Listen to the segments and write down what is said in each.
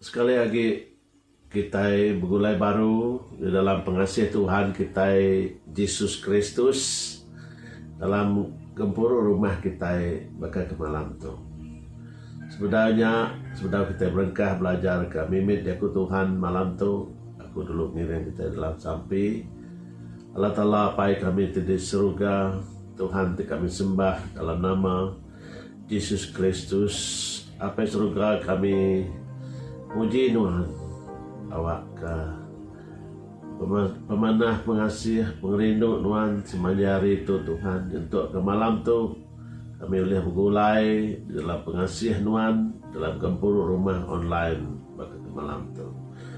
Sekali agi kitai begulai baru di dalam pengasih Tuhan kitai Jesus Kristus dalam gempuru rumah kitai baka ke malam tu. Sebedau nya, sebedau kitai berengkah belajarka mimit jaku Tuhan malam tu, aku dulu ngiring kitai dalam sampi, Allah Taala Apai kami ti di seruga, Tuhan ti kami sembah dalam nama, Jesus Kristus, Apai Seruga kami, muji Nuan. Awakka pemanah pengasih, pengerindu Nuan semaya hari tu, Tuhan. Nyentukka malam tu, kami ulih begulai di dalam pengasih Nuan dalam gempuru rumah online baka ke malam tu.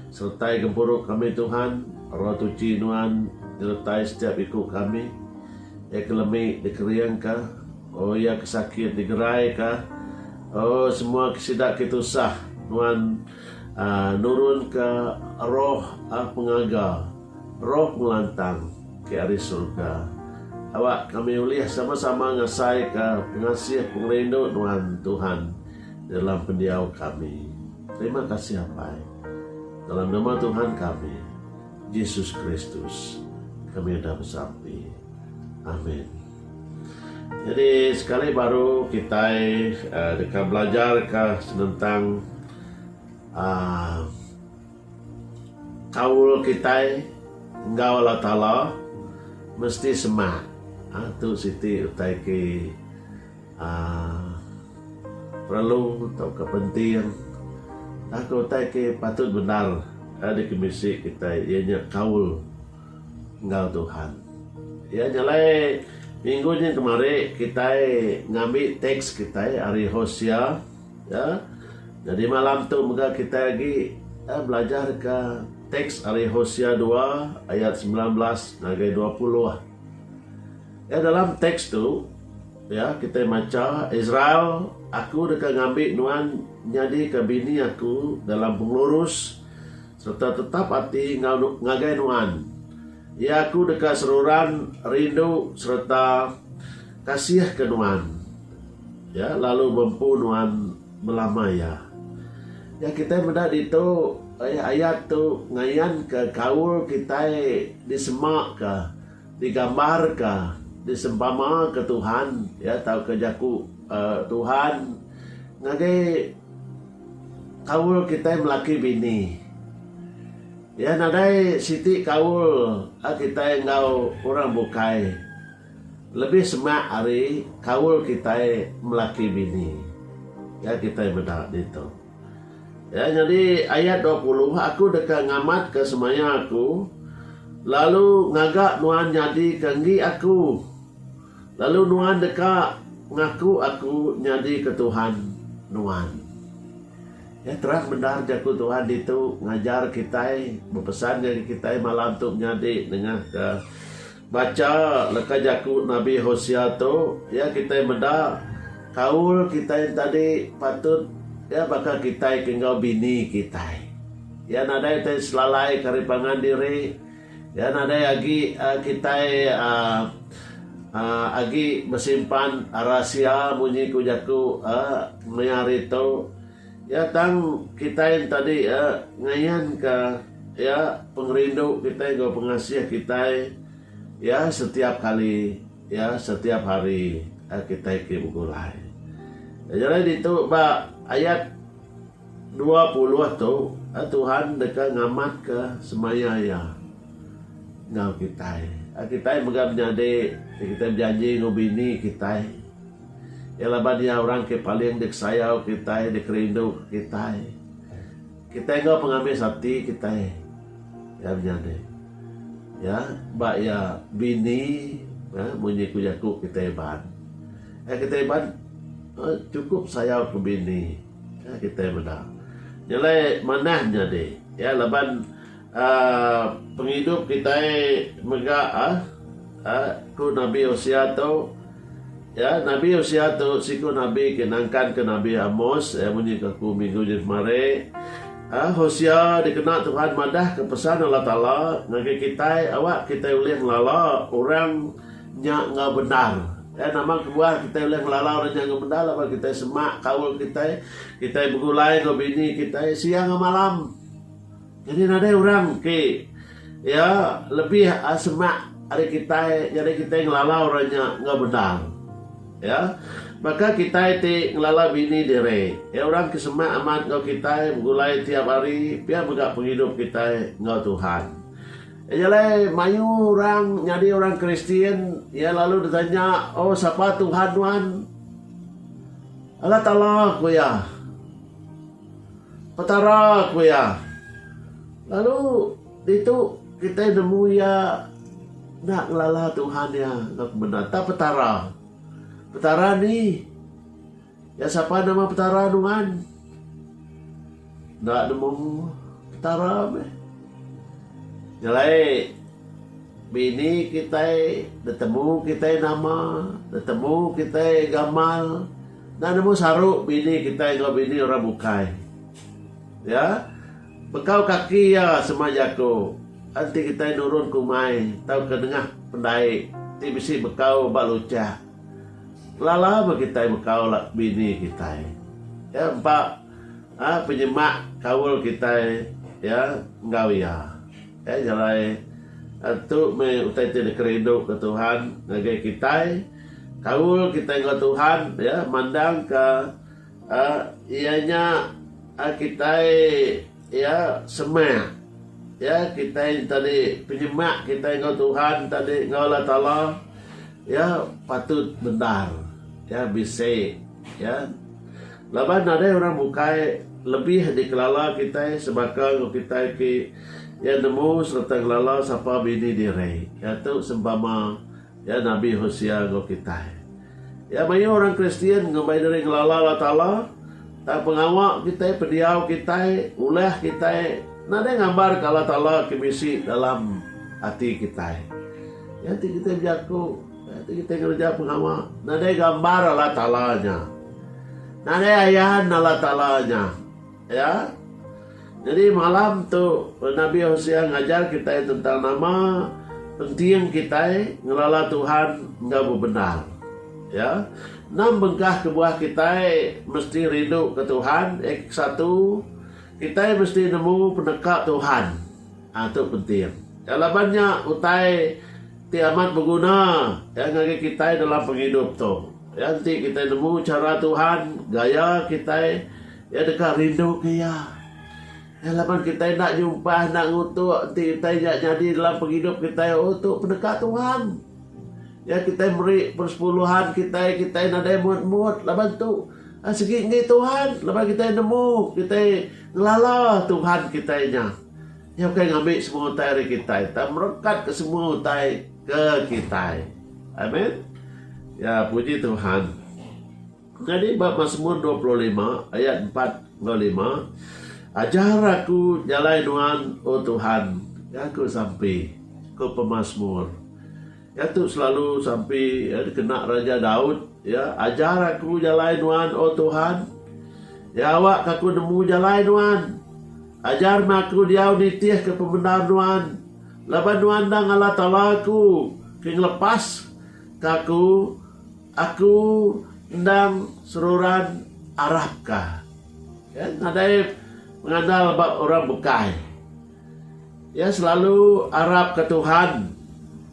Sertai gempuru kami, Tuhan. Roh Tuchi Nuan nyertai setiap iku kami, iya ke lemi dikeringka. Oh iya ke sakit digerai ka. Oh semua ke sida ke tusah nuan uhh nurun ka roh uhh pengaga roh pengelantang ke ari surga awak kami ulih sama sama ngasai ka pengasih pengerindu nuan Tuhan di dalam pendiau kami. Terima kasih Apai. Dalam nama Tuhan kami Jesus Kristus kami udah besampi. Amin. Nyadi sekali baru kitai deka belajarka senentang aaa kaul kitai enggau Allah Taala mesti semak. Aaa tu siti utai ti aaa perlu tauka penting tauka utai ti patut bendar dikemisi kitai iya nya kaul. enggau Tuhan. Iya nya alai minggu nya kemari kitai ngambi teks kitai ari Hosea ya. Jadi malam tu mega kitai agi ya belajarka teks ari Hosea dua ayat semilan belas ngagai dua puluh. Ya dalam teks tu ya kitai macha Israel aku deka ngambi nuan nyadika bini aku dalam pengelurus Serta tetap ati enggau nu ngagai nuan. Ya aku deka seruran rindu sereta kasih ke nuan ya lalu bempu nuan belama ya. Ya kitai meda ditu ai ayat tu ngayan ke kaul kitai di sema ka di gambar ka di sempama ka Tuhan ya tau ka jaku Tuhan ngagai Kaul kitai melaki bini. Iya nadai siti kaul a kitai enggau orang bukai lebih semak ari kaul kitai melaki bini. Ga kitai meda ditu. Ya nyadi ayat dua puluh aku deka ngamatka semaya aku lalu ngaga nuan nyadika enggi aku. Lalu nuan deka ngaku aku nyadika Tuhan nuan. Ya, terang bendar Jaku Tuhan ditu ngajar kitai, bepesan ngagai kitai malam tu menyadi nengahka bacha leka jaku Nabi Hosea tu, ya kitai meda kaul kitai entadi patut ya baka kitai ke enggau bini kitai. Ya nadai tai selalaika ari pangan diri. Iya nadai agi kitai agi besimpan rahasia munyi ku jaku meh hari tu iya tang kitai enti adi ngayanka iya pengerindu kitai enggau pengasih kitai iya setiap kali iya setiap hari kitai ti begulai. Nyadi ditu ba ayat. Dua puluh tu Tuhan deka ngamatka semaya Iya enggau kitai. Kitai mega menyadi ti kitai bejanji enggau Bini kitai. Iya laban Iya orang ke paling dikesayau kitai, dikerindu kitai. Kitai enggau pengamis ati kitai Iya menyadi. Iya ba Iya Bini munyi ku jaku kitai Iban. Kitai Iban chukup sayauka Bini. Nya kitai meda. Nya alai manah nyadi iya laban aaa pengidup kitai mega aaa ku nabi Hosea tu iya nabi Hosea tu siku nabi ke nangkan ke nabi Amos iya munyi ke aku minggu nya kemari aaa Hosea dikena Tuhan madah ke pesan Allah Taala ngagai kitai awak kitai ulih ngelala orang Nya enggau bendar. Iya nama kebuah kitai ulih ngelalau diri nya enggau bendar laban kitai semak kaul kitai. Kitai begulai enggau bini kitai siang enggau malam. Jadi nadai orang ti iya lebih semak ari kitai jadi kitai ngelalau orang nya enggau bendar. Iya baka kitai ti ngelalau bini diri. Iya orang ke semak amat enggau kitai begulai tiap hari pia mega pengidup kitai enggau Tuhan. Eja alai, mayuh orang nyadi orang Kristian, iya lalu betanya, Oh, sapa Tuhan nuan? Allah Taala, ku iya. Petara, ku iya. Lalu, ditu kitai nemu iya enda ngelala Tuhan iya enggau kemenda. Tang Petara. Petara ni. Ya sapa nama Petara nuan? Enda nemu Petara meh. Nyelai bini kitai ditemu kitai nama, ditemu kitai gamal, enda nemu saru bini kitai enggau bini orang bukai. Ya. Bekau kaki iya sema jaku enti kitai nurun ke umai tauka nengah pendai ti bisi bekau ba luchak. Lala meh kitai bekau la bini kitai. Ya empa aa penyemak kaul kitai ya enggau iya. Ya jalai tu meh utai ti dikerindu ke Tuhan ngagai kitai. Kaul kitai enggau Tuhan ya mandangka aa iya nya aa kitai Iya semah. Iya kitai tadi penyemak kitai enggau Tuhan tadi enggau Allah Taala iya patut bendar. Iya bisi iya. Laban nadai orang bukai lebih dikelala kitai sebaka enggau kitai ti iya nemu sereta ngelala sapa bini diri. Iya tu sempama. Iya nabi Hosea enggau kitai. Iya mayuh orang Kristian ngumbai diri ngelala Allah Taala, tang pengawa kitai, pendiau kitai, ulah kitai nadai ngambarka Allah Taala ke bisi dalam ati kitai. Nya ti kitai bejaku, nya ti kitai ngereja pengawa, nadai gambar Allah Taala nya. Nadai ayan Allah Taala nya. Ya. Nyadi malam tu Nabi Hosea ngajar kitai tentang nama penting kitai ngelala Tuhan enggau bebendar. Ya. Enam bengkah kebuah kitai mesti rinduka Tuhan iya ke satu, kitai mesti nemu peneka Tuhan. Ha tu penting. Ya laban nya utai ti amat beguna ya ngagai kitai dalam pengidup tu. Ya enti kitai nemu chara Tuhan, gaya kitai Iya deka rinduka iya. Iya laban kitai enda nyumpah, enda ngutuk enti utai nya nyadi dalam pengidup kitai, oh tu peneka Tuhan. Iya kitai meri persepuluhan kitai, kitai nadai mut-mut laban tu eh, sigi enggi Tuhan laban kitai nemu, kitai ngelala Tuhan kitai nya. Iya ukai ngambi semua utai ari kitai, tang merekatka semua utai ke kitai. Amen. Ya, puji Tuhan. Ku kadi ba Masmur dua puluh lima ayat empat enggau lima, Ajar aku jalai Nuan, O Tuhan, ga aku sampi. Ku pemasmur ga tu selalu sampi dikena Raja Daud, iya, Ajar aku jalai Nuan, O Tuhan. Iya awakka aku nemu jalai Nuan. Ajar meh aku diau nitihka pemendar Nuan, laban Nuan endang Allah Taala aku ke ngelepaska aku Aku endang seruran arap ka iya nadai mengandal ba orang bukai. Iya selalu arap ka Tuhan.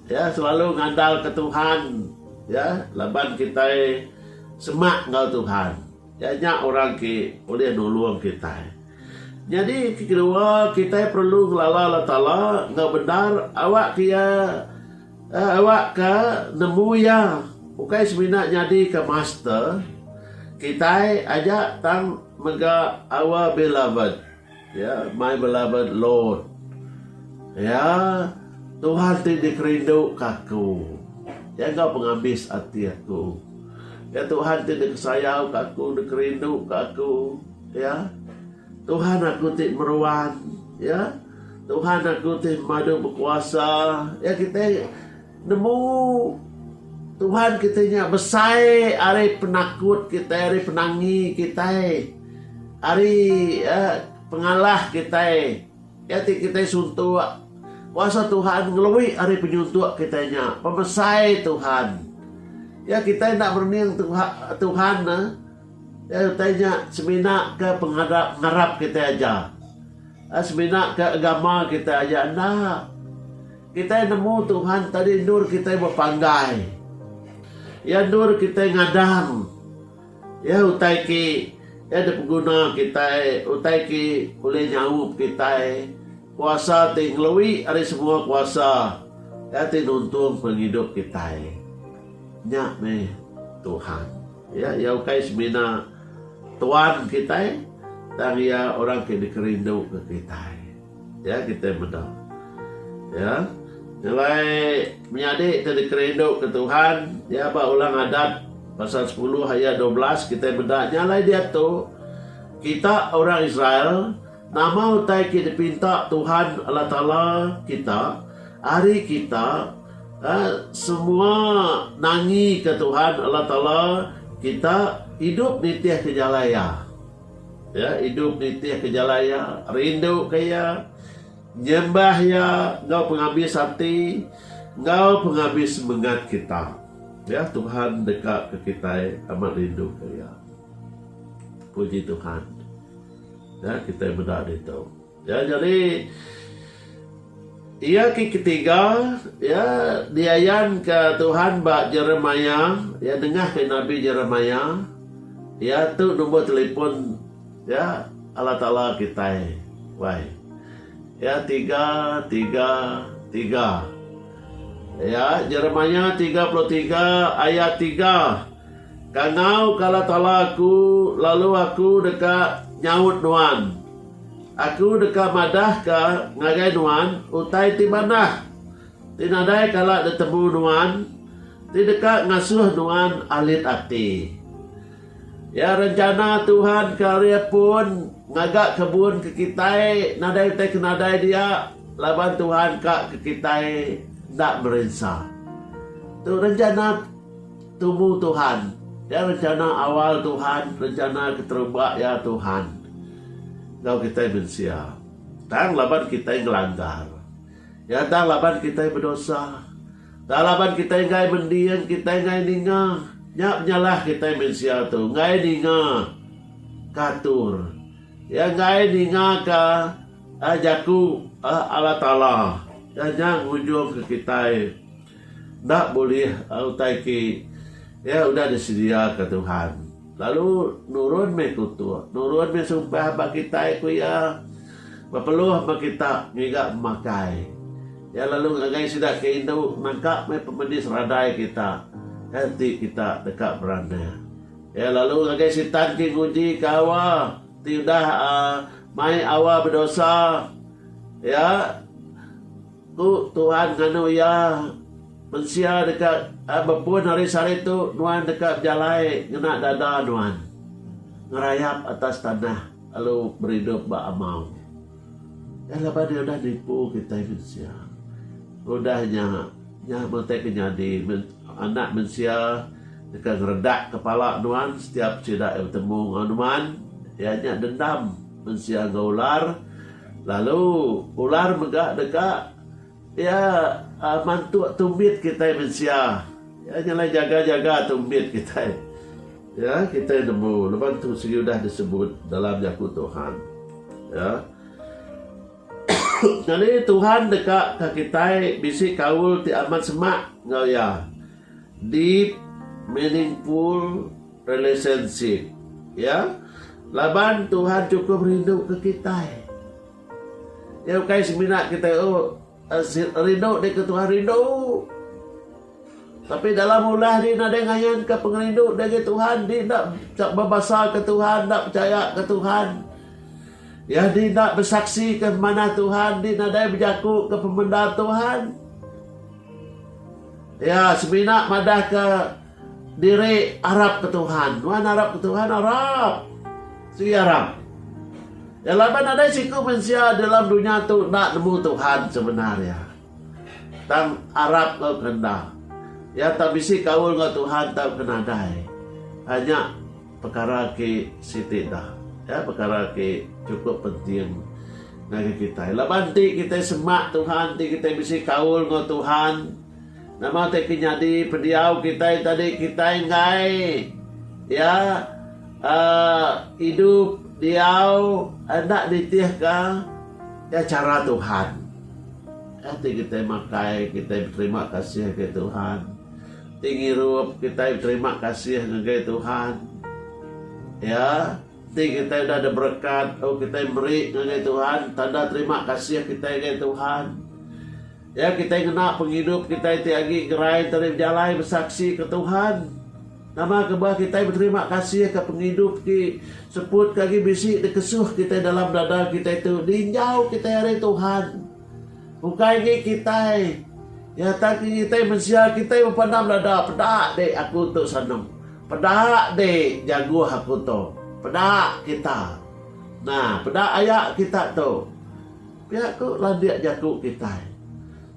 Iya selalu ngandal ka Tuhan iya laban kitai semak enggau Tuhan. Nya nya orang ti ulih nulung kitai. Nyadi ti kedua, kitai perlu ngelala Allah Taala enggau bendar awakka Iya eh, awakka nemu Iya. Ukai semina nyadika master kitai aja tang mega our beloved. Ya, my beloved Lord. Ya, Tuhan ti dikerinduka aku. Ya enggau pengabis ati aku. Ya Tuhan ti dikesayauka aku, dikerinduka aku. Ya. Tuhan aku ti meruan. Ya. Tuhan aku ti madu bekuasa. Ya kitai Nemu Tuhan kitai nya besai ari penakut kitai, ari penangi kitai, ari pengalah kitai. Iya ti kitai suntuk kuasa Tuhan ngelui ari penyuntuk kitai nya, pemesai Tuhan. Ya kitai enda merening Tuhan ne utai nya semina ke pengarap ngarap kitai aja. Semina ke agama kitai aja enda. Kitai nemu Tuhan tadi endur kitai bepanggai. Iya endur kitai ngadang. Iya utai ke iya dipeguna kitai, utai ke ulih nyaup kitai. Kuasa ti ngelui ari semua kuasa. Iya ti nuntung pengidup kitai. Nya meh Tuhan. Ya, iya ukai semina tuan kitai tang iya orang ke dikerinduka kitai. Ya kitai meda. Ya. Nyelai menyadi ti dikerinduka Tuhan, ya ba Ulang Adat pasal sepuluh ayat dua belas kitai meda nya alai diatu kita orang Israel nama utai ke dipinta Tuhan Allah Taala kita ari kita semua nangika Tuhan Allah Taala kita idup nitihka jalai Iya. Iya idup nitihka jalai iya, rinduka iya, nyembah iya enggau pengabis ati enggau pengabis semengat kita. Ya, Tuhan dekaka kitai amat rinduka iya. Puji Tuhan. Ya, kitai meda ditu. Ya jadi iya ki ketiga ya diayan ka Tuhan ba Jeremia ya nengah ka nabi Jeremia ya tu number telepon ya Allah Taala kitai wai ya tiga tiga tiga ya Jeremia tiga puluh tiga ayat tiga kangau ka Allah Taala aku lalu aku deka nyaut nuan. Aku deka madahka ngagai nuan utai ti manah ti nadai kala ditemu nuan ti deka ngasuh nuan alit ati. Ya rencana Tuhan ke ari pun ngaga kebun ke kitai nadai utai ke nadai dia laban Tuhan ka ke kitai enda merinsa. Tu rencana Tubu Tuhan, iya rencana awal Tuhan, rencana keterubah iya Tuhan enggau kitai mensia. Tang laban kitai ngelanggar Iya, tang laban kitai bedosa, tang laban kitai enggai mending, kitai enggai ninga, nya penyalah kitai mensia tu, enggai ninga ka atur Iya, enggai ninga ka jaku Allah Taala. Iya nya ngujungka kitai. Enda bulih utai ti iya udah disediaka Tuhan. Lalu nurun meh kutuk, nurun meh sumpah ba kitai ku iya, bepeluh ba kita ngiga pemakai. Iya lalu ngagai sida ke indu nangka meh pemedis radai kita kai ti kita deka beranah. Iya lalu ngagai Sitan ti ngujika awa ti udah uhh mai awa bedosa iya. Ku Tuhan nganu iya, Mensia deka bepun hari sehari tu nuan deka bejalai ngena dada nuan, ngerayap atas tanah lalu beridup ba amau. Eh laban iya udah nipu kitai mensia. Udah nya, nya meh ti ke nyadi, Anak Mensia deka ngeredak kepala nuan setiap sida iya betemu enggau nuan, iya nya dendam mensia enggau ular. Lalu ular mega deka iya mantuk tumbit kitai mensia. Iya nyelai jaga-jaga tumbit kitai. Ya, kitai nemu leban tu sigi udah disebut dalam jaku Tuhan. Ya. Nyadi Tuhan deka ka kitai bisi kaul ti amat semak enggau iya. Deep, meaningful, Relationship. Ya. Laban Tuhan chukup rinduka kitai. Nya ukai semina kitai oh eh, rindu deka Tuhan rindu. Tapi dalam ulah di nadai ngayanka pengerindu dagi Tuhan, di ndak bebasa ke Tuhan, ndak percaya ke Tuhan. Ya di ndak bersaksi ke manah Tuhan, di nadai berjaku ke pemendar Tuhan. Ya semina madah ke Diri arap ke Tuhan. Nuan arap ke Tuhan? Arap. Sigi arap. Ya laban nadai siku mensia dalam dunya tu enda nemu Tuhan sebenar iya. Tang arap enggau ke enda. Iya tau bisi kaul enggau Tuhan tau ke nadai. Anya pekara ke siti dah. Ya pekara ke chukup penting ngagai kitai. Laban ti kitai semak Tuhan, ti kitai bisi kaul enggau Tuhan. Nama ti ke nyadi pendiau kitai tadi kitai enggai iya aaa idup diau enda nitihka iya chara Tuhan. Iya ti kitai makai kitai beterima kasih ngagai Tuhan. Ti ngirup kitai beterima kasih ngagai Tuhan. Iya ti kitai udah ada berekat au kitai meri ngagai Tuhan tanda terima kasih kitai ngagai Tuhan. Iya kitai ngena pengidup kitai ti agi gerai enti ari bejalai besaksi ke Tuhan. Nama ke bah kitai beterima kasih ke pengidup ti seput ke agi bisi dikesuh kitai dalam dada kitai tu ninjau kitai ari Tuhan. Ukai agi kitai iya tang ke ngitai mensia kitai bepandam dada peda dek aku tu sanum. Peda dek jaguh aku tu. Peda kita. Nah peda aya kita tu. Pia tu landik jaku kitai.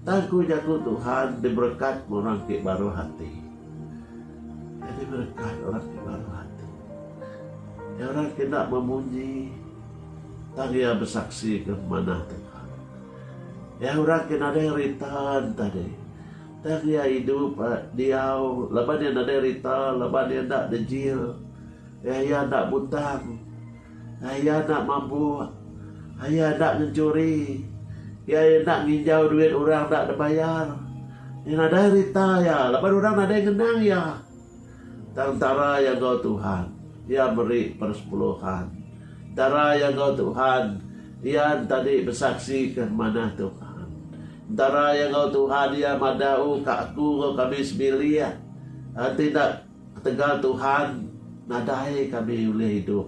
Tang ku jaku Tuhan diberekat me orang ti baruh ati. Iya diberekat orang ti baruh ati. Iya orang ti enda memunyi tang iya besaksika pemanah Tuhan. Iya orang ti nadai rita tadi tang iya idup diau laban iya nadai rita laban iya enda dejil iya enda butang. Iya enda mabuk. Iya enda ngenchuri. Iya enda nginjau duit orang enda dibayar. Iya nadai rita iya laban orang nadai ngenang iya. Tang entara iya enggau Tuhan, iya meri persepuluhan. Entara iya enggau Tuhan, iya entadi besaksi ke manah Tuhan. Entara iya enggau Tuhan, iya madah, O ka aku enggau kami sebilik, enti enda. Ketegal Tuhan nadai kami ulih idup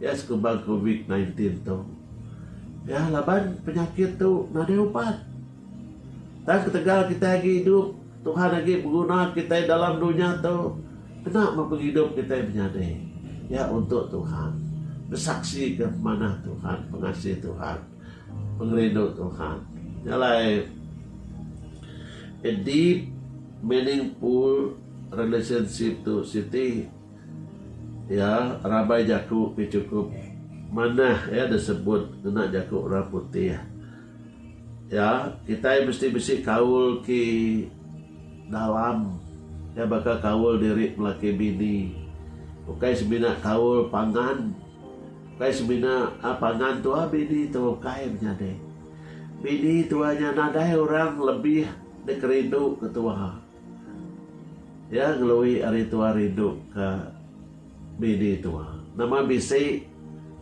iya sekubang covid nine tin tu iya laban penyakit tu nadai ubat. Tang ketegal kitai agi idup Tuhan agi beguna kitai dalam dunya tu kena meh pengidup kitai menyadi iya untuk Tuhan besaksika pemanah Tuhan pengasih Tuhan pengerindu Tuhan. Nya alai a deep meaningful. Relationship tu siti iya rabai jaku ke chukup manah iya disebut ngena jaku orang putih iya kitai mesti bisi kaul ti dalam iya baka kaul diri laki bini ukai semina kaul pangan ukai semina a pangan tu a bini tu ukai menyadi bini tu a nya nadai orang lebih dikerindu ketua. Iya ngelui ari tua rindu ke bini tua. Nama bisi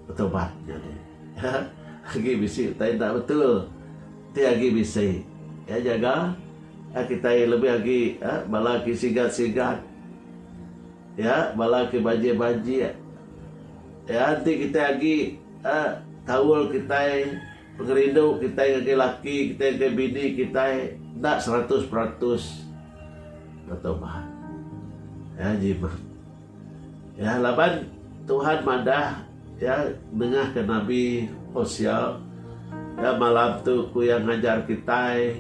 betubat nyadi. Agi bisi utai enda betul. Enti agi bisi iya nyaga iya kitai lebih agi bala agi sigat-sigat iya bala agi banjik-banjik iya enti kitai agi kaul kitai Pengerindu kitai ngagai laki kitai ngagai bini kitai enda seratus peratus betaubat. Ya jimat. Ya laban Tuhan madah ya nengahka nabi Hosea ya malam tu ku yang ngajar kitai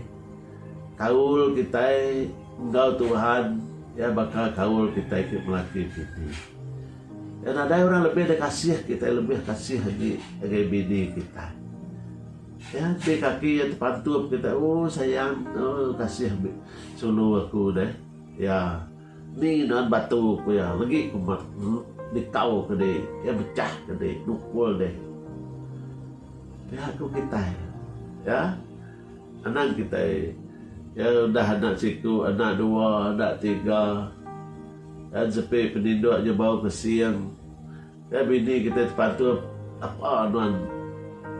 kaul kitai enggau Tuhan ya baka kaul kitai ke melaki bini. Nya nadai orang lebih da kasih kitai lebih kasih agi ngagai bini kitai. Nya ti kaki iya tepantup kitai ooh sayang ooh kasih sulu aku deh. Iya ni nuan batu ku iya legi ku mak nikau ke dek iya mechah ke dek nukul dek. Pia ku kitai ya. Anang kitai iya udah anak siku, anak dua, anak tiga. Kan sepi peninduk nya bau ke sing. Kai bini kitai tepantun apa nuan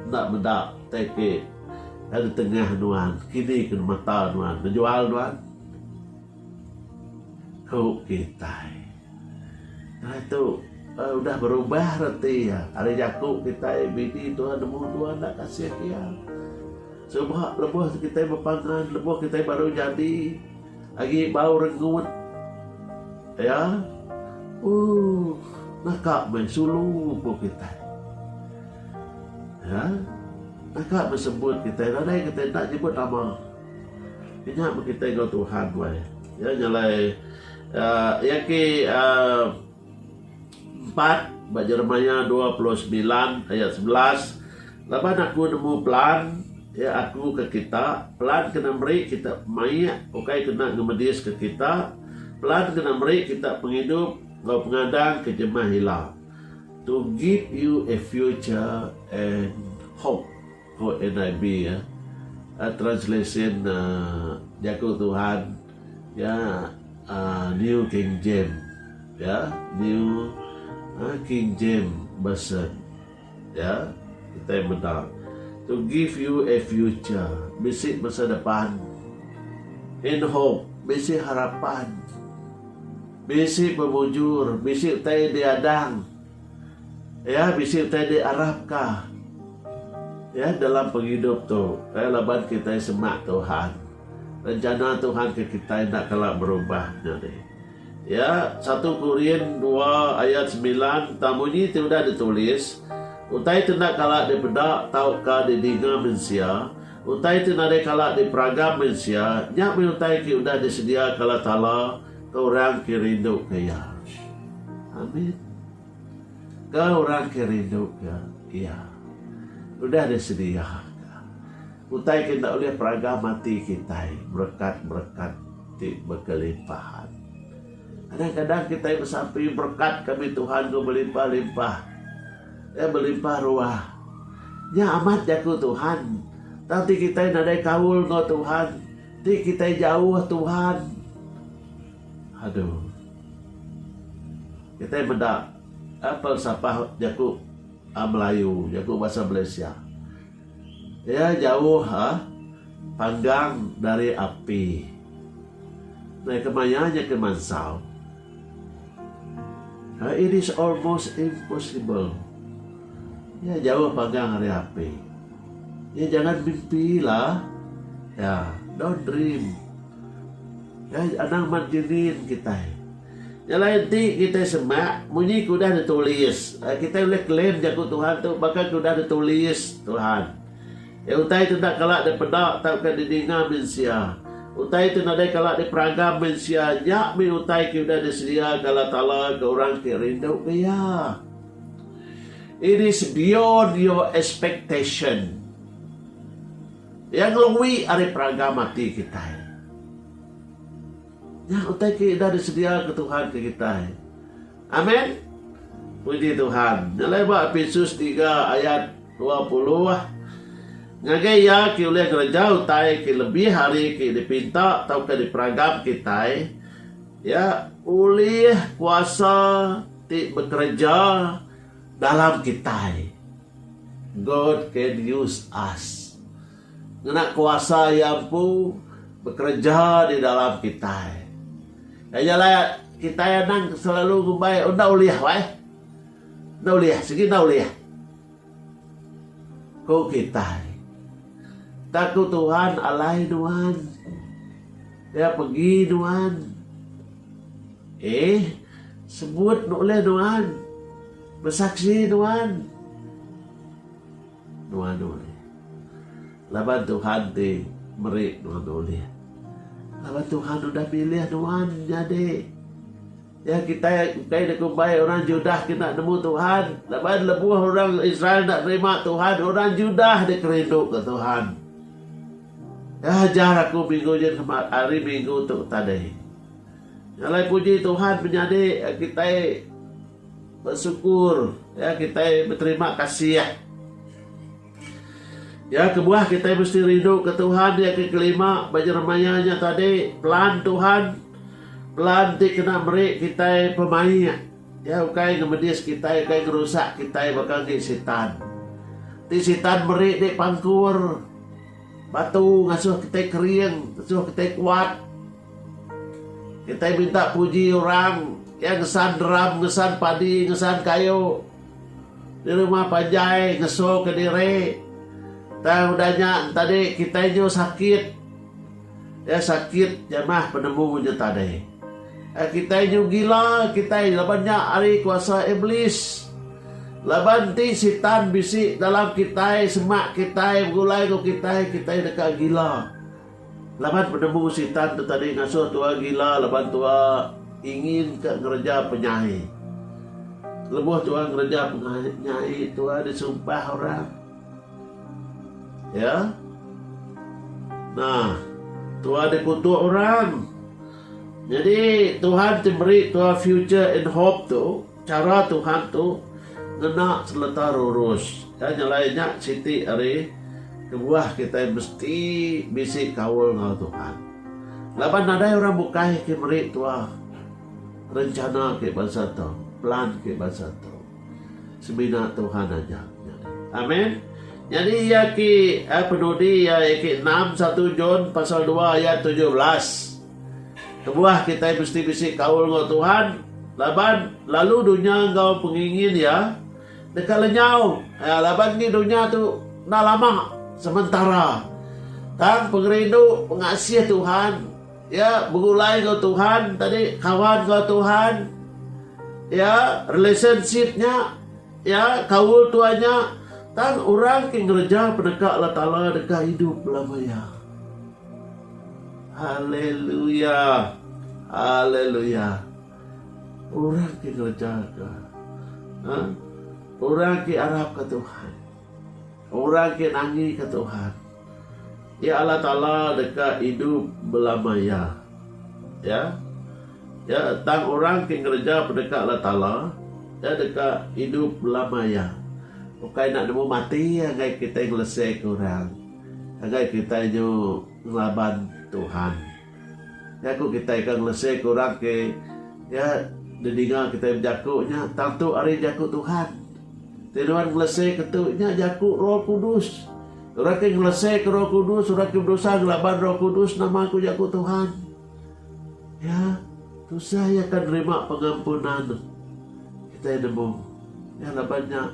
enda meda tai ke kai ditengah nuan, kini ke mata nuan, bejual nuan? ku kitai. Ai tu udah berubah reti iya. Ari jaku kitai bini tua nemu tua enda kasih iya. Suba lebuh kitai bepangan lebuh kitai baru nyadi agi bau rengut iya ooh naka meh sulu ku kitai. Iya naka meh sebut kitai nadai kitai enda nyebut nama. Inya meh kitai enggau Tuhan wai. Iya nyelai. Iya ke empat ba Jeremiah dua puluh semilan ayat sebelas, Laban Aku nemu pelan iya Aku ke kita, pelan kena meri kita pemaik ukai kena ngemediska kita, pelan kena meri kita pengidup enggau pengadang ke jemah ila. To give you a future and hope. Ko NIV iya, a translation Jaku Tuhan iya New King James iya, New King James Version iya, kitai meda, To give you a future, bisi masa depan, and hope, bisi harapan, bisi pemujur, bisi utai diadang. Iya bisi utai diarapka iya dalam pengidup tu iya laban kitai semak Tuhan. Rencana Tuhan ke kitai enda kala berubah nyadi. Ya, satu Korin dua ayat semilan enta munyi ti udah ditulis, Utai ti enda kala dipeda tauka didinga mensia, utai ti nadai kala diperagam mensia, nya meh utai ti udah disedia kala Taala Ke orang ke rinduka Iya. Amin. Ke orang ke rinduka Iya. Udah disediaka utai ke enda ulih peragang mati kitai, berekat-berekat ti bekelimpahan. Kadang-kadang kitai besampi berekat kami Tuhan ku belimpah-limpah. Eh belimpah ruah. Nya amat jaku Tuhan. Tang ti kitai nadai kaul enggau Tuhan, Ti kitai jauh Tuhan. Aduh. Kitai meda eh, pelsapah jaku ah, Melayu, jaku bahasa Malaysia. Iya jauh ah, panggang dari api. Nah, kemaya nya ke mansau. It is almost impossible. Iya jauh pagang ari api. Iya jangan mimpi lah. Iya, don't dream. Iya anang mat genin kitai. Nya alai enti kitai semak munyi ke udah ditulis, kitai ulih claim jaku Tuhan tu baka ke udah ditulis Tuhan. Iya utai ti enda kala dipeda tauka didinga mensia. Utai ti nadai kala diperagam mensia nya mih utai ke udah disediaka Allah Taala ke orang ti rinduka Iya. It is beyond your expectation. Iya ngelui ari peragam ati kitai. Nya utai ke udah disediaka Tuhan ke kitai. Amen. Puji Tuhan. Nyelai ba Episus tiga ayat dua puluh. Ngagai iya ke ulih ngereja utai ke lebih ari ke dipinta tauka diperagam kitai, iya ulih kuasa ti bekereja dalam kitai. God can use us. Ngena kuasa Iya empu bekereja di dalam kitai. Iya nya alai kitai anang ke selalu ngumbai, Enda ulih wai. Enda ulih, sigi enda ulih. Ku kitai. Tang ku Tuhan alai nuan. Dia pegi nuan. Eeh, sebut ulih nuan. Besaksi nuan. Nuan ulih. Laban Tuhan ti meri nuan ulih. Laban Tuhan udah milih nuan nyadi. Ya kitai engkai enda kumbai orang Judah kena nemu Tuhan. Laban lebuh orang Israel enda nerima Tuhan, orang Judah dek kerinduka Tuhan. Ya ajar aku minggu jen kema ari minggu tu tadi. Ngalai puji Tuhan menyadi kitai Besukur, ya kitai beterima kasih. Ya kebuah kitai mesti rindu ke Tuhan ya ke kelima ba jeremaya nya tadi pelan Tuhan pelan ti kena meri kitai pemaik ya ukai ngemedis kitai ukai ngerusak kitai baka ngi sitan. Ti sitan meri di pangkur batu ngasuh kitai kering ngasuh kitai kuat. Kitai minta puji orang iya ngesan drum, ngesan padi, ngesan kayu di rumah panjai ngesuka diri. Tang udah nya tadi kitai nyu sakit. Iya sakit nya mah penemu nya tadi. Kitai nyu gila kitai laban nya ari kuasa Iblis. Laban ti Sitan bisi dalam kitai semak kitai begulai enggau kitai, kitai deka gila. Laban penemu Sitan tu tadi ngasuh tua gila laban tua ingin ka ngereja penyai. Lebuh tua ngereja penyai tua disumpah orang. Ya. Nah, tua dikutuk orang. Nyadi Tuhan ti meri tua future and hope tu, Chara Tuhan tu ngena seleta rurus. Ka nyelai nya siti ari kebuah kitai mesti bisi kaul enggau Tuhan. Laban nadai orang bukai ke meri tuah rencana ke bansa tu, plan ke bansa tu. Semina Tuhan aja. Amen. Nyadi iya ke penudi iya ke enam satu John pasal dua ayat tujuh belas. Kebuah kitai mesti bisi kaul enggau Tuhan laban lalu dunya enggau pengingin iya deka lenyau laban ngi dunya tu enda lama sementara. Tang pengerindu pengasih Tuhan iya begulai enggau Tuhan tadi kawan enggau Tuhan iya relationship nya iya kaul Tuhan nya tang orang ti ngereja peneka Allah Taala deka idup belama iya. Haleluya! Haleluya! Orang ke ngereja ke ha? orang ke arapka Tuhan, orang ke nangika Tuhan, iya Allah Taala deka idup belama iya. Ya. Ya, tang orang ke ngereja peneka Allah Taala, iya deka idup belama iya. Ukai enda nemu mati anggai kitai ngeleseka orang. Ngagai kitai nyu ngelaban Tuhan. Nya ku kitai ke ngelese ke orang ke iya didinga kitai bejaku nya tantu ari jaku Tuhan. Ti nuan ngelese ke tu nya jaku Roh Kudus. Orang ke ngelese ke Roh Kudus, orang ke bedosa ngelaban Roh Kudus nama ku jaku Tuhan. Iya tusah iya akan nerima pengampunan. Kitai nemu. Iya laban nya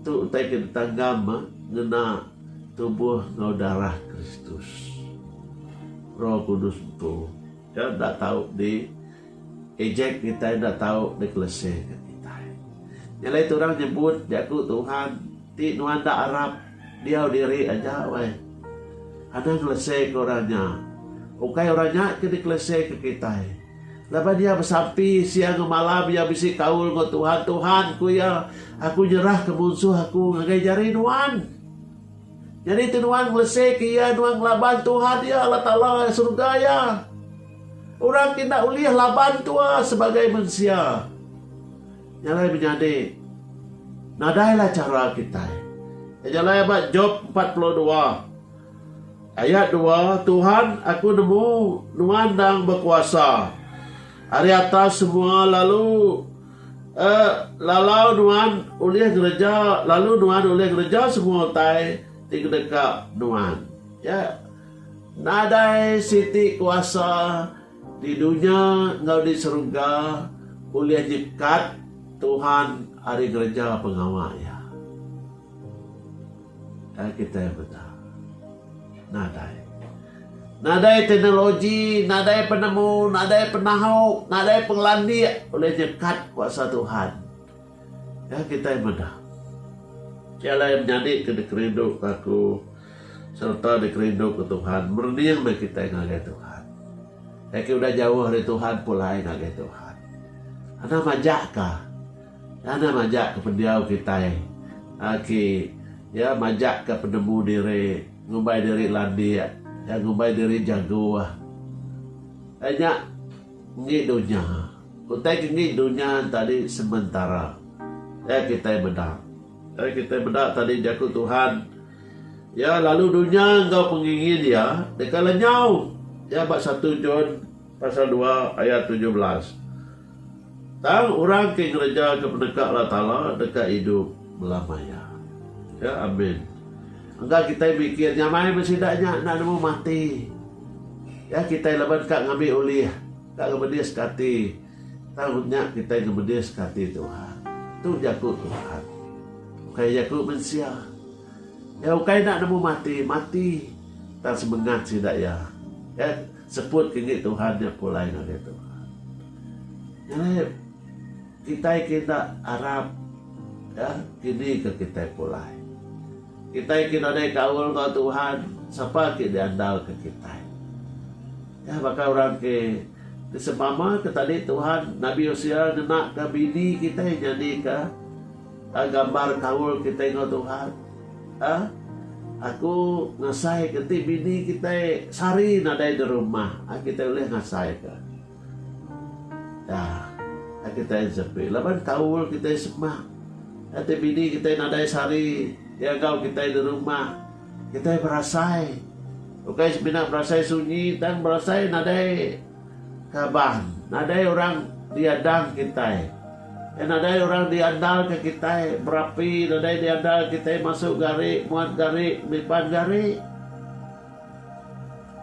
tu utai ke ditanggam eh, ngena Tubuh enggau darah Kristus. Roh Kudus tu ke enda tau di ejek kitai enda tau di kelese ke kitai. Nya alai tu orang nyebut jaku Tuhan ti nuan enda arap diau diri aja weh. Anang ngelese ke orang nya. Ukai orang nya ke dikelese ke kitai. Lepas iya besampi, siang enggau malam iya bisi kaul enggau Tuhan. Tuhan, ku iya, aku nyerahka munsuh aku ngagai jari Nuan. Nyadi tu Nuan ngelesika iya, Nuan ngelaban Tuhan iya, Allah Taala serega iya. Orang ti enda ulih laban tua sebagai mensia. Nya alai menyadi nadailah chara kitai. Nya alai ba Job 42. Ayat dua, Tuhan, aku nemu Nuan endang bekuasa ari atas semua lalu lalau Nuan ulih ngereja lalu Nuan ulih ngereja semua utai ti kedeka Nuan. Iya nadai siti kuasa di dunya enggau di serega ulih nyekat Tuhan ari ngereja pengawa Iya. Kai kitai meda. Nadai. Nadai teknologi, nadai penemu, nadai penau, nadai pengelandik ulih nyekat kuasa Tuhan. Kai kitai meda. Ti alai menyadi ke dikerindu ke aku sereta dikerindu ke Tuhan merening meh kitai ngagai Tuhan. Kai ke udah jauh ari Tuhan pulai ngagai Tuhan. Anang majak ka. Tanda majak ke pendiau kitai agi iya majak ke penemu diri ngumbai diri landik iya ngumbai diri jago ai nya enggi dunya utai ke enggi dunya tadi sementara iya kitai meda iya kitai meda tadi jaku Tuhan iya lalu dunya enggau pengingin iya deka lenyau iya ba satu John pasal dua ayat tujuh belas. Tang orang ke ngereja ke peneka Allah Taala deka idup belamaya. Ya, amin. Engka kitai mikir nyamai meh sida nya enda nemu mati. Ya, kitai laban ka ngambi ulih, ka ngemediska ati. Tang nya kitai ngemediska ati Tuhan. Tu jaku Tuhan. Ukai jaku mensia. Ya, ukai enda nemu mati, mati. Tang semengat sida iya. Ya. Seput ke ngi Tuhan nya pulai ngagai Tuhan. Nyadi kitai ke enda arap ya kini ke kitai pulai. Kitai ke nadai kaul enggau Tuhan sapa agi diandalka kitai. Ya baka orang ke disempama ke tadi Tuhan Nabi Hosea ngenaka bini kitai nyadika A Gambar kaul kitai enggau Tuhan. A Aku ngasai ke ti bini kitai sehari nadai di rumah, a kitai ulih ngasai ke. Da, a kitai nsepi laban kaul kitai sema. A ti bini kitai nadai sehari iya enggau kitai di rumah, kitai berasai. Ukai semina berasai sunyi tang berasai nadai. Kaban, nadai orang diadang kitai. Iya nadai orang diandalka kitai, berapi nadai diandal kitai masuk gari, muat gari, nipan gari.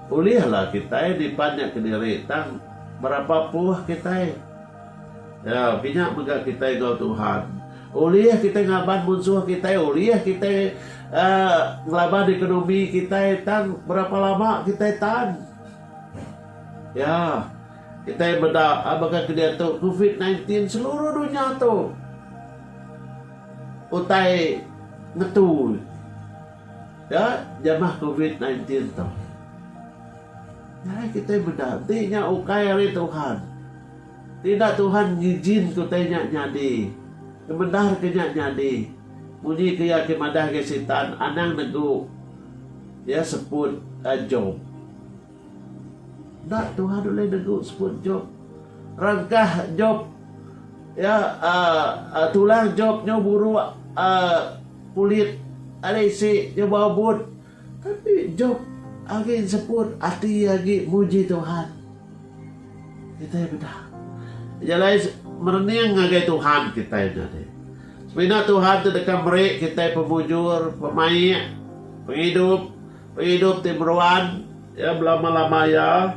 Ulihlah kitai nipan nya kediri tang berapa puh kitai. Iya pinya mega kitai enggau Tuhan. Ulih kitai ngaban munsuh kitai, ulih kitai uhh ngelaban ekonomi kitai tang berapa lama kitai tan. Ya, kitai meda baka ke diatu Covid nineteen ti seluruh dunya tu utai ngetu ya jamah Covid nineteen tu. Nadai kitai meda enti nya ukai ari Tuhan. Ti enda Tuhan ngijinka utai nya nyadi, ngemendar ke nya nyadi. Munyi ke iya ke madah agi Sitan anang negu iya seput Job. Enda Tuhan ulih negu seput Job. Rangkah Job iya aaa tulang Job nyau buruk aaa kulit ari isi nyau bau but. Tapi Job agi enseput ati iya agi muji Tuhan. Kitai peda. Nya alai merening ngagai Tuhan kitai nya deh. Semina Tuhan ti deka meri kitai pemujur, pemaik, pengidup, pengidup ti meruan ya belama-lama iya.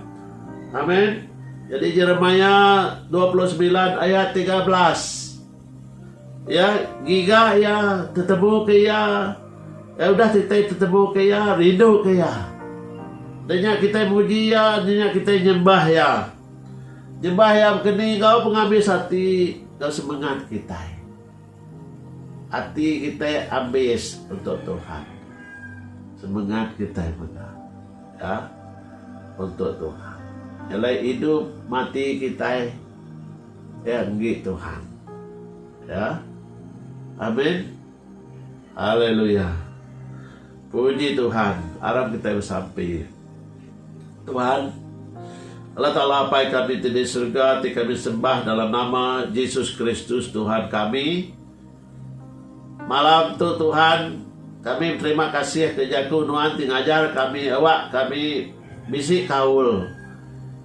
Amen. Jadi Jeremiah dua puluh semilan ayat tiga belas. Iya ngiga iya, tetebuka iya, iya udah kitai tetebuka iya, rinduka iya. Enda nya kitai muji iya, enda nya kitai nyembah iya. Nyembah iya baka ni enggau pengabis ati enggau semengat kitai. Ati kitai abis untuk Tuhan. Semengat kitai mega ka untuk Tuhan. Nya alai idup mati kitai. Nya enggi Tuhan. Ya. Amin. Haleluya. Puji Tuhan. Aram kitai besampi. Tuhan, Allah Taala Apai kami ti di serega ti kami sembah dalam nama Jesus Kristus Tuhan kami. Malam tu Tuhan, kami beterima kasih ke jaku Nuan ti ngajar kami awak kami bisi kaul.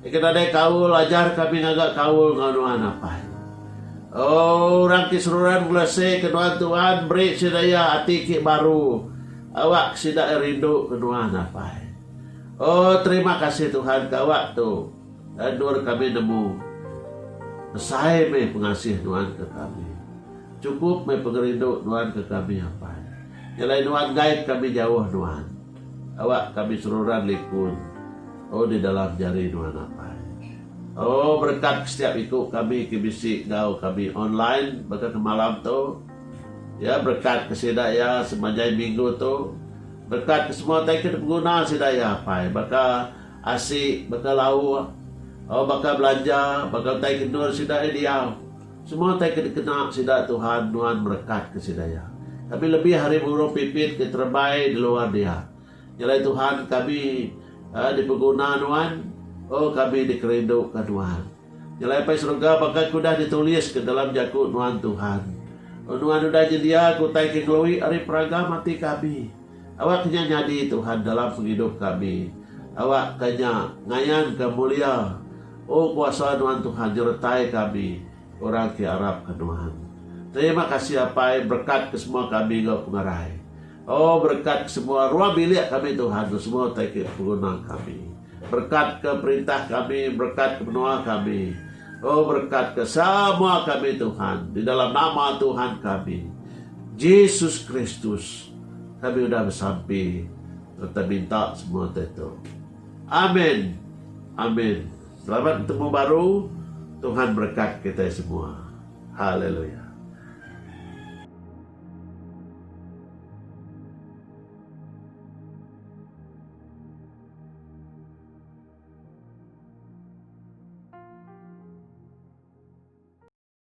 Agi nadai kaul ajar kami ngaga kaul enggau Nuan apai. Oh orang ti seruran ngelese ke Nuan Tuan beri sida iya ati ki baru awak ke sida rindu ke Nuan apai. Oh terima kasih Tuhan ke awak tu. Endur kami nemu. Besai meh pengasih nuan ke kami. Cukup meh pengerindu nuan ke kami apai. Nyelai nuan enggai kami jauh nuan. Awak kami seruran likun oh di dalam jari nuan apai. Oh berekat ke setiap iku kami ke bisi enggau kami online baka ke malam tu. Ya berekat ke sida iya semanjai minggu tu. Berekat ke semua utai ke dipenguna sida iya apai baka. Asi baka lau oh baka belanja baka utai kendur sida iya diau. Semua utai ke dikena sida Tuhan nuan merekatka sida iya. Kami lebih ari burung pipit ke terebai di luar dia. Nyelai Tuhan kami eh dipeguna nuan oh kami dikerinduka nuan. Nyelai Apai Serega baka ke udah dituliska dalam jaku nuan Tuhan. Oh nuan udah nyediaka utai ke ngelui ari peraga mati kami. Awak ke nya nyadi Tuhan dalam pengidup kami. Awak ke nya ngayan ke mulia. O kuasa nuan Tuhan nyeretai kami orang ke arap ke nuan. Terima kasih apai berkat ke semua kami enggau pengerai. O berkat ke semua ruang bilik kami Tuhan tu semua utai ke peguna kami. Berkat ke perintah kami berkat ke menua kami. O berkat ke semua kami Tuhan di dalam nama Tuhan kami Jesus Kristus. Kami udah besampi sereta minta semua ti tu. Amen. Amen. Selamat betemu baru. Tuhan berekat kitai semua. Haleluya.